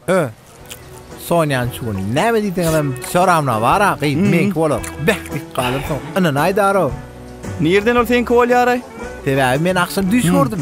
Ö. Sonýan şu gün näme diýseňem hem soramna bara gyz hmm. meňki bolar. Beh dik galyrsyň. Ynanaýdaro. Nirden ol seňki bolýar? Sebäbi men akşam düş hmm. gördüm.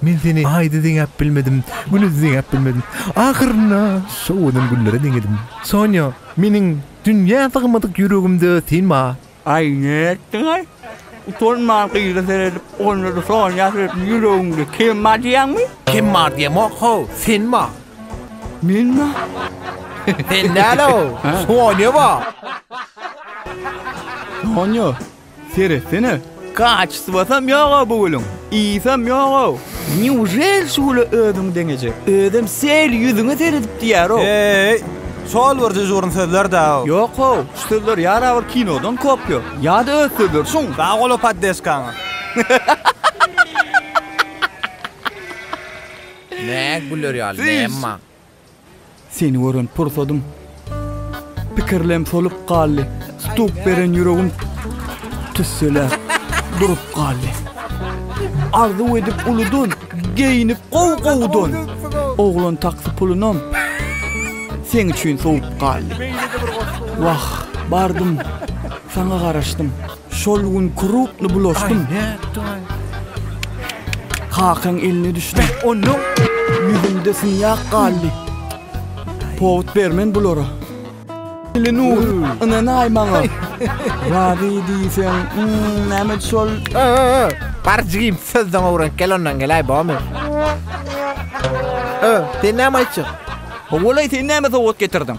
Men seni Aýda deňäp bilmedim, Güne-de deňäp bilmedim. Ahyrynda sowadan güllere deňedim. Sonýa, meniň dünýä sygmadyk ýüregimde sen bar. Aý, nätdiň-aý? Utanman gyza seredip, onda-da Sonýa seredip, Ýüregiňde kim bar diýýäňmi? Kim bar diýemok, how, sen bar. Men bar. Sen däl-ow, Sonýa bar. Sonýa, Seretsene, kaçswasam ýog-ow bu gülüň, ysam ýog-ow. Nýužel şu güle özüň deňejek? Özem sel ýüzüňe seredip diýýär-ow. Heý, şol bir düjgürn sözler-dä-ow. Ýok-ow, şu sözler ýa-da bir kinodan kopýa, ýa-da öz sözleri şuň. Sag bol-a poddeşkaňa. Nä güler ýaly näme bar? Seni gören pursadym Pikirlem solup galdy Tutup beren ýüregim Tüsseläp durup galdy Arzuw edip uludan Geýinip gowy gowudan Oglan taksy pulunam Seň üçin sowup galdy Wah bardym Saňa garaşdym Şol gün krupny bulaşdym. Kakaň eline düşdüm. Ýüzümde synýak galdy. Powut bermen bulara. Eli nur, ynanaý maňa. Razy diýseň, näme şol? Bar jigim, sözden owrenk, gel ondan gelaý, bormy? Sen näme aýtjak? Howwalaý, sen näme sowgat getirdiň?